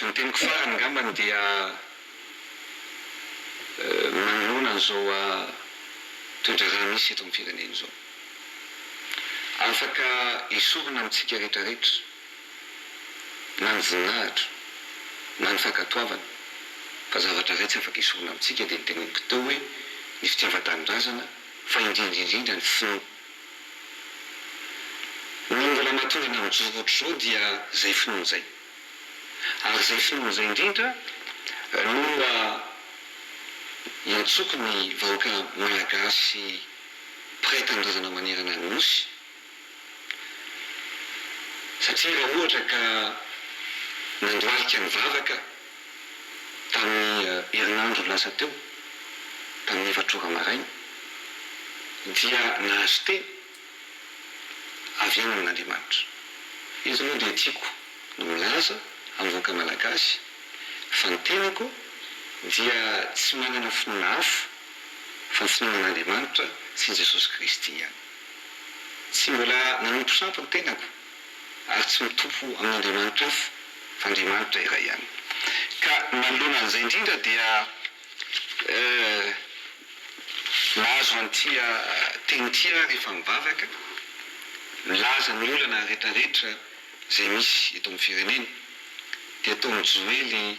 Ny teniko farany angambany dia manoloana an'izao toedraharaha misy eto amin'ny firenena izao. Afaka esorina amintsika rehetrarehetra na ny voninahitra, na ny fankatoavana, fa zavatra iray tsy afaka esorina amintsika dia ny teneniko teo hoe ny fitiavan-tanindrazana, fa indrindra indrindra ny finoana. Ny mbola mahatonga anao mijoro ohatr'izao dia izay finoana izay. Ary izay finoana izay indrindra no iantsoako ny vahoaka malagasy mpiray tanindrazana manerana ny Nosy, Satria raha ohatra ka nandohalika nivavaka tamin'ny herinandro lasa teo, tamin'ny efatra ora maraina, dia nahazo teny avy any amin'Andriamanitra. Eto moa dia tiako ny milaza amin'ny vahoaka malagasy fa ny tenako dia tsy manana finoana hafa fa ny finoana an'Andriamanitra sy an'i Jesosy Kristy ihany. Tsy mbola nanompo sampy ny tenako ary tsy mitompo amin'ny andriamanitra hafa fa Andriamanitra iray ihany. Ka manoloana an'izay indrindra dia mahazo an'ity teny ity aho rehefa mivavaka, milaza ny olana rehetrarehetra izay misy eto amin'ny firenena dia toa mijoely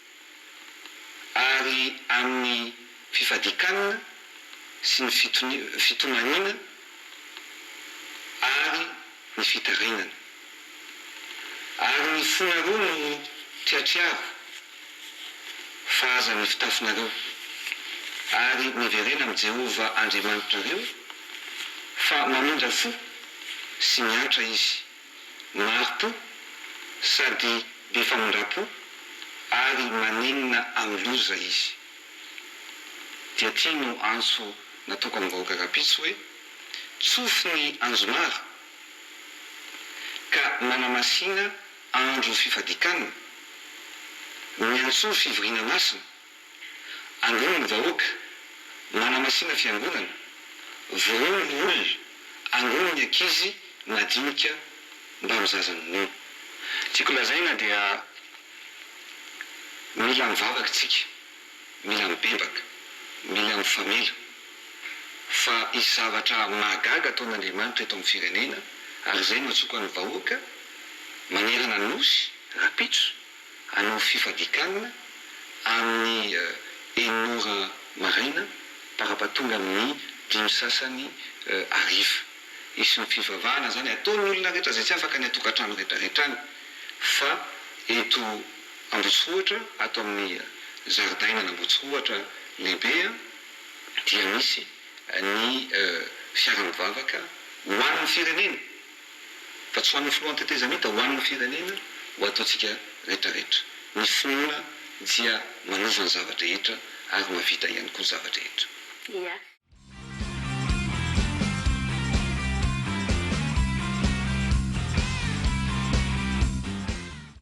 ary amin'ny fifadikanana sy ny fitomaniana ary ny fitarainana. Ary ny fonareo no triatriaro fa aza ny fitafinareo, ary miverena amin'i Jehovah Andriamanitrareo, fa mamindra fo sy miantra izy. Mari-po sady be famindram-po ary manenina amin'ny loza izy. Dia ity no antso natokan-bahoaka rahampitso hoe, Tsofy ny anjomara ka manamasina andro fifadikanana, miantsoa fivoriana masina. Androany ny vahoaka, manamasina fiangonana, vonono ny olona, angono ny ankizy madinika mba ho zaza minono. Tiako lazaina dia mila mivavaka isika, mila mibebaka, mila mifamela fa hisy zavatra mahagaga ataon'Andriamanitra eto amin'ny firenena ary izay no atsoaka ny vahoaka manerana ny Nosy rahampitso. Hanao fifadikanana amin'ny enina ora maraina parapatonga amin'ny dimy sasany hariva. Hisy ny fivavahana izany ataon'ny olona rehetra izay tsy afaka any an-tokantrano rehetrarehetra any fa eto Ambohitsirohitra ato amin'ny zaridainana Ambohitsirohitra lehibe dia misy ny fiara mivavaka ho an'ny firenena. fa tsy ho an'ny filohan'ny tetezamita, ho an'ny firenena, ho ataontsika retraretra. Ny finoana dia manova ny zava-drehetra ary mahavita ihany koa ny zava-drehetra. Ia.